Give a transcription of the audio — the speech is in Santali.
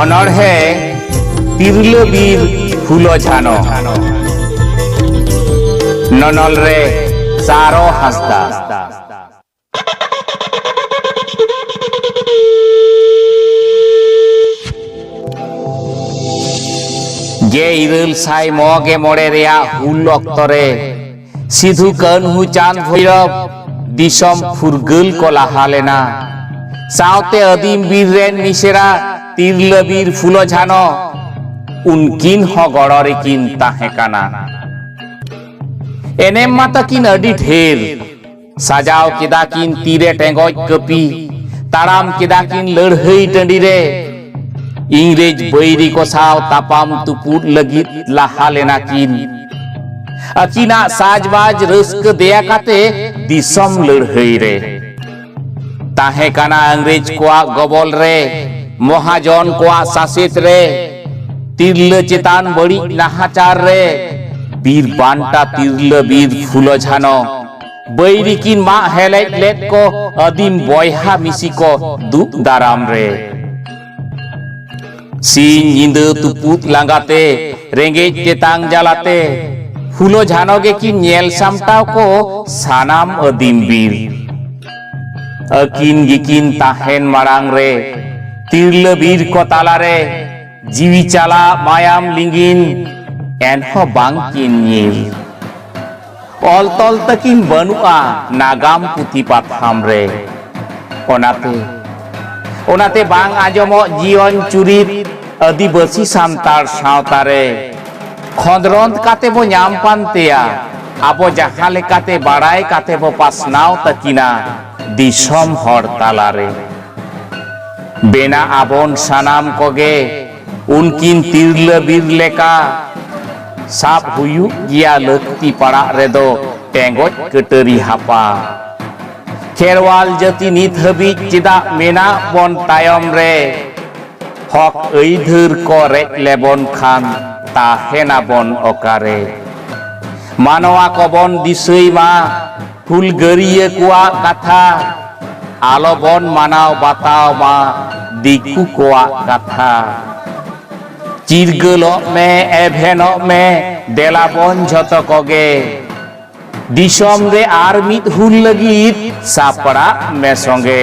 ᱚᱱᱚᱬᱦᱮ ᱛᱤᱨᱞᱟᱹ ᱵᱤᱨ ᱯᱷᱩᱞᱚ ᱡᱷᱟᱱᱚ ᱱᱚᱱᱚᱞ ᱨᱮ ᱥᱟᱨᱚ ᱦᱟᱸᱥᱫᱟ ᱜᱮ ᱤᱨᱟᱹᱞ ᱥᱟᱭ ᱢᱚᱜᱮ ᱢᱚᱬᱮ ᱨᱮᱭᱟᱜ ᱦᱩᱞ ᱚᱠᱛᱚ ᱨᱮ ᱥᱤᱫᱷᱩ ᱠᱟᱹᱱᱦᱩ ᱪᱟᱸᱫᱽ ᱵᱷᱳᱭᱨᱚᱵ ᱫᱤᱥᱚᱢ ᱯᱷᱩᱨᱜᱟᱹᱞ ᱠᱚ ᱞᱟᱦᱟ ᱞᱮᱱᱟ ᱥᱟᱶᱛᱮ ᱟᱹᱫᱤᱢ ᱵᱤᱨ ᱨᱮᱱ ᱢᱤᱥᱮᱨᱟ ᱛᱤᱨᱞᱟᱹ ᱵᱤᱨ ᱯᱷᱩᱞᱚ ᱡᱷᱟᱱᱚ ᱩᱱᱠᱤᱱ ᱦᱚᱸ ᱜᱚᱲᱚ ᱨᱮᱠᱤᱱ ᱛᱟᱦᱮᱸ ᱠᱟᱱᱟ ᱮᱱᱮᱢ ᱢᱟ ᱛᱟᱹᱠᱤᱱ ᱟᱹᱰᱤ ᱰᱷᱮᱨ ᱥᱟᱡᱟᱣ ᱠᱮᱫᱟ ᱠᱤᱱ ᱛᱤᱨᱮ ᱴᱮᱸᱜᱚᱡ ᱠᱟᱹᱯᱤ ᱛᱟᱲᱟᱢ ᱠᱮᱫᱟ ᱠᱤᱱ ᱞᱟᱹᱲᱦᱟᱹᱭ ᱴᱟᱺᱰᱤ ᱨᱮ ᱤᱝᱨᱮᱡᱽ ᱵᱟᱹᱭᱨᱤ ᱠᱚ ᱥᱟᱶ ᱛᱟᱯᱟᱢ ᱛᱩᱯᱩᱫ ᱞᱟᱹᱜᱤᱫ ᱞᱟᱦᱟ ᱞᱮᱱᱟ ᱠᱤᱱ ᱟᱹᱠᱤᱱᱟᱜ ᱥᱟᱡᱽᱵᱟᱡᱽ ᱨᱟᱹᱥᱠᱟᱹ ᱫᱮᱭᱟ ᱠᱟᱛᱮ ᱫᱤᱥᱚᱢ ᱞᱟᱹᱲᱦᱟᱹᱭ ᱨᱮ ᱛᱟᱦᱮᱸ ᱠᱟᱱᱟ ᱤᱝᱨᱮᱡᱽ ᱠᱚᱣᱟᱜ ᱜᱚᱵᱚᱞ ᱨᱮ ᱢᱚᱦᱟᱡᱚᱱ ᱠᱚᱣᱟᱜ ᱥᱟᱥᱮᱛ ᱨᱮ ᱛᱤᱨᱞᱟᱹ ᱪᱮᱛᱟᱱ ᱵᱟᱹᱲᱤᱡ ᱱᱟᱦᱟᱪᱟᱨ ᱨᱮ ᱵᱤᱨ ᱵᱟᱱᱴᱟ ᱛᱤᱨᱞᱟᱹ ᱵᱤᱨ ᱯᱷᱩᱞᱚ ᱡᱷᱟᱱᱚ ᱵᱟᱹᱭᱨᱤ ᱠᱤᱱ ᱢᱟᱜ ᱦᱮᱞᱮᱡ ᱞᱮᱫ ᱠᱚ ᱟᱹᱫᱤᱢ ᱵᱚᱭᱦᱟ ᱢᱤᱥᱤ ᱠᱚ ᱫᱩᱜ ᱫᱟᱨᱟᱢ ᱨᱮ ᱥᱤᱧ ᱧᱤᱫᱟᱹ ᱛᱩᱯᱩᱫ ᱞᱟᱸᱜᱟᱛᱮ ᱨᱮᱸᱜᱮᱡ ᱛᱮᱛᱟᱝ ᱡᱟᱞᱟᱛᱮ ᱦᱩᱞᱳ ᱡᱷᱟᱱᱚ ᱜᱮᱠᱤᱱ ᱧᱮᱞ ᱥᱟᱢᱴᱟᱣ ᱠᱚ ᱥᱟᱱᱟᱢ ᱟᱹᱫᱤᱢ ᱵᱤᱨ ᱟᱹᱠᱤᱱ ᱜᱮᱠᱤᱱ ᱛᱟᱦᱮᱱ ᱢᱟᱲᱟᱝ ᱨᱮ ᱛᱤᱨᱞᱟᱹ ᱵᱤᱨ ᱠᱚ ᱛᱟᱞᱟᱨᱮ ᱡᱤᱣᱤ ᱪᱟᱞᱟᱜ ᱢᱟᱭᱟᱢ ᱞᱤᱸᱜᱤᱱ ᱮᱱᱦᱚᱸ ᱵᱟᱝᱠᱤᱱ ᱧᱤᱨ ᱚᱞ ᱛᱚᱞ ᱛᱟᱹᱠᱤᱱ ᱵᱟᱹᱱᱩᱜᱼᱟ ᱱᱟᱜᱟᱢ ᱯᱩᱛᱷᱤ ᱯᱟᱛᱷᱟᱢ ᱨᱮ ᱚᱱᱟᱛᱮ ᱚᱱᱟᱛᱮ ᱵᱟᱝ ᱟᱸᱡᱚᱢᱚᱜ ᱡᱤᱭᱚᱱ ᱪᱩᱨᱤᱛ ᱟᱹᱫᱤᱵᱟᱹᱥᱤ ᱥᱟᱱᱛᱟᱲ ᱥᱟᱶᱛᱟ ᱨᱮ ᱠᱷᱚᱸᱫᱽᱨᱚᱸᱫᱽ ᱠᱟᱛᱮ ᱵᱚ ᱧᱟᱢ ᱯᱟᱱᱛᱮᱭᱟ ᱟᱵᱚ ᱡᱟᱦᱟᱸ ᱞᱮᱠᱟᱛᱮ ᱵᱟᱲᱟᱭ ᱠᱟᱛᱮ ᱵᱚ ᱯᱟᱥᱱᱟᱣ ᱛᱟᱹᱠᱤᱱᱟ ᱫᱤᱥᱚᱢ ᱦᱚᱲ ᱛᱟᱞᱟᱨᱮ ᱵᱮᱱᱟᱜ ᱟᱵᱚᱱ ᱥᱟᱱᱟᱢ ᱠᱚᱜᱮ ᱩᱱᱠᱤᱱ ᱛᱤᱨᱞᱟᱹ ᱵᱤᱨ ᱞᱮᱠᱟ ᱥᱟᱵ ᱦᱩᱭᱩᱜ ᱜᱮᱭᱟ ᱞᱟᱹᱠᱛᱤ ᱯᱟᱲᱟᱜ ᱨᱮᱫᱚ ᱴᱮᱸᱜᱚᱡ ᱠᱟᱹᱴᱟᱹᱨᱤ ᱦᱟᱯᱟ ᱠᱷᱮᱨᱣᱟᱞ ᱡᱟᱹᱛᱤ ᱱᱤᱛ ᱦᱟᱹᱵᱤᱡ ᱪᱮᱫᱟᱜ ᱢᱮᱱᱟᱜ ᱵᱚᱱ ᱛᱟᱭᱚᱢ ᱨᱮ ᱦᱚᱠ ᱟᱹᱭᱫᱷᱟᱹᱨ ᱠᱚ ᱨᱮᱡ ᱞᱮᱵᱚᱱ ᱠᱷᱟᱱ ᱛᱟᱦᱮᱱᱟᱵᱚᱱ ᱚᱠᱟᱨᱮ ᱢᱟᱱᱣᱟ ᱠᱚᱵᱚᱱ ᱫᱤᱥᱟᱹᱭ ᱢᱟ ᱦᱩᱞᱜᱟᱹᱨᱤᱭᱟᱹ ᱠᱚᱣᱟᱜ ᱠᱟᱛᱷᱟ ᱟᱞᱚ ᱵᱚᱱ ᱢᱟᱱᱟᱣ ᱵᱟᱛᱟᱣ ᱢᱟ ᱫᱤᱠᱩ ᱠᱚᱣᱟᱜ ᱠᱟᱛᱷᱟ ᱪᱤᱨᱜᱟᱹᱞᱚᱜ ᱢᱮ ᱮᱵᱷᱮᱱᱚᱜ ᱢᱮ ᱫᱮᱞᱟ ᱵᱚᱱ ᱡᱷᱚᱛᱚ ᱠᱚᱜᱮ ᱫᱤᱥᱚᱢ ᱨᱮ ᱟᱨ ᱢᱤᱫ ᱦᱩᱞ ᱞᱟᱹᱜᱤᱫ ᱥᱟᱯᱲᱟᱜ ᱢᱮ ᱥᱚᱸᱜᱮ